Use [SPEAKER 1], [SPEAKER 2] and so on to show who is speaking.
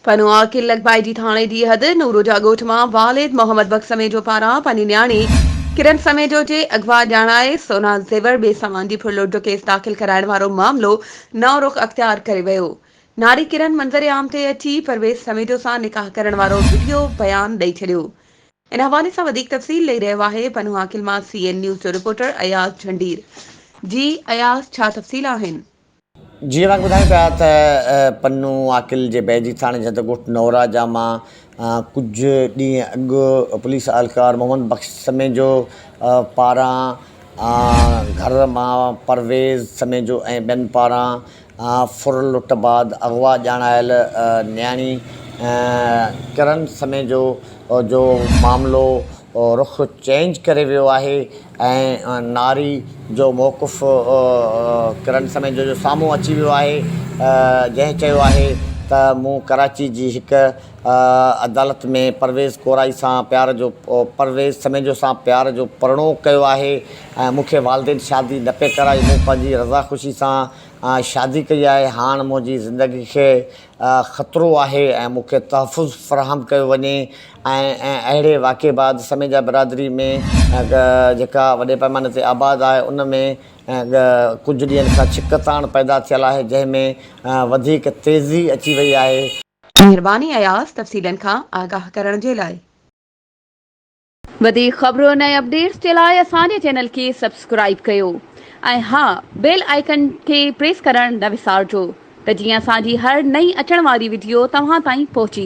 [SPEAKER 1] پنهون عاقل لڳڀائي جي ٿاڻي جي حد نورو جا ڳوٺ مان والد محمد بخش سميجو پاران پنهنجي نياڻي ڪرن سميجو جي اغوا ڄاڻائي سونا زيور ٻئي سامان جي ڦرلوٽ جو ڪيس داخل ڪرائڻ وارو معاملو نئون رخ اختيار ڪري ويو ناري ڪرن منظر عام تي اچي پرويز سميجو سان نڪاح ڪرڻ وارو وڊيو بيان ڏئي ڇڏيو ان حوالي سان وڌيڪ تفصيل ڏئي رهيو آهي پنهون عاقل مان سي اين نيوز جو رپورٽر اياز جهنڊير جي اياز ڇا تفصيل آهن. جيئن اوهان
[SPEAKER 2] کي ٻڌايون پيا ته پنهون عاقل جي بيجي ٿاڻي جي هنڌ ڳوٺ نوراجا مان ڪجهه ڏينهن اڳ پوليس اهلڪار محمد بخش سميجو پاران گهر مان پرويز سميجو ۽ ٻين پاران ڦر لٽ بعد اغوا ڄاڻايل نياڻي ڪرن سميجو جو معاملو رخ چينج ڪري ويو آهي ۽ ناري جو موقف ڪرن سميجو جو سامهون اچي ويو آهي جنهن چيو آهي ته مون ڪراچي جي هڪ عدالت ۾ پرويز ڪورائي سان پيار جو پرويز سميجو سان پيار جو پرڻو ڪيو آهي ۽ مون کي والدين شادي نه پئي ڪرائي مون پنهنجي رضا خوشي سان شادي ڪئي آهي هاڻ منهنجي زندگي کي خطرو آهي ۽ مون کي تحفظ فراهم ڪيو وڃي ۽ اهڙي واقعي بعد سميجا برادري ۾ جيڪا وڏي پئماني تي آباد آهي ان ۾ ڪجهه ڏينهن کان ڇڪ تاڻ پيدا ٿيل آهي جنهن ۾ وڌيڪ تيزي اچي وئي آهي. مھرباني
[SPEAKER 1] اياز تفصيلن کان آگاھ ڪرڻ جي لاء. وڌيڪ خبرن ۽ اپڊيٽس جي لاء اسان جي چينل کي سبسڪرائيب ڪيو ۽ ها بيل آئيڪن کي پريس ڪرڻ نه وسارجو ته جيئن اسان جي هر نئين اچڻ واري وڊيو توهان تائين پهچي